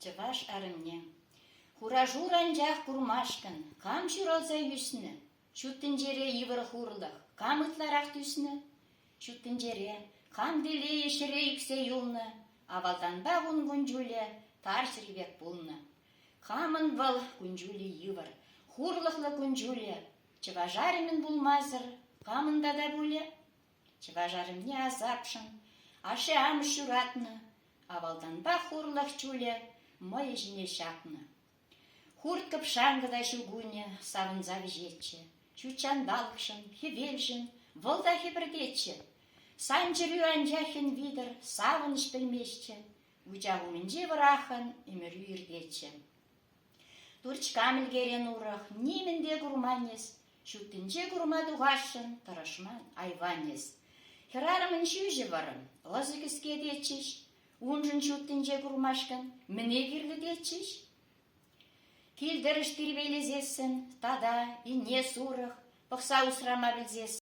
Чӑваш арӑмне хура-шур анчах курмашкӑн кам ҫуралса ӳснӗ? Ҫут тӗнчере йывӑр хурлӑх кам ытларах тӳснӗ? Ҫут тӗнчере кам телейӗ ҫӗре ӳксе юлнӑ? Авалтанпа ун кун-ҫулӗ тарҫӑри пек пулнӑ. Камӑн вӑл кун-ҫулӗ йывӑр, хурлӑхлӑ кун-ҫулӗ? Чӑваш арӑмӗн пулмасӑр камӑн тата пулӗ? Чӑваш арӑмне асапшӑн ашшӗ-амӑш ҫуратнӑ, авалтанпах урлӑх чулӗ мӑйӗ ҫине ҫапнӑ. Хурт-кӑпшанкӑ та ҫу кунӗ савӑнса вӗҫетчӗ. Ҫут ҫанталӑкшӑн, хӗвелшӗн вӑл та хӗпӗртетчӗ. Сан чӗрӳ анчах хӗн витӗр савӑнӑҫ пӗлместчӗ. Вучах умӗнчи вӑраххӑн ӗмӗрӳ иртетчӗ. Турчка мӗлкерен урӑх нимӗн те курманӗс, ҫуттинче курма тухасшӑн тӑрӑшман айванӗс. Хӗрарӑмӑн ҫӳҫӗ вӑрӑм, лӑсӑ кӗске тетчӗҫ. Уншӑн ҫуттинче курмашкӑн мӗне кирлӗ тетчӗҫ? Кил-тӗрӗш тирпейлесессӗн тата инне сурӑх пӑхса усрама пӗлсессӗн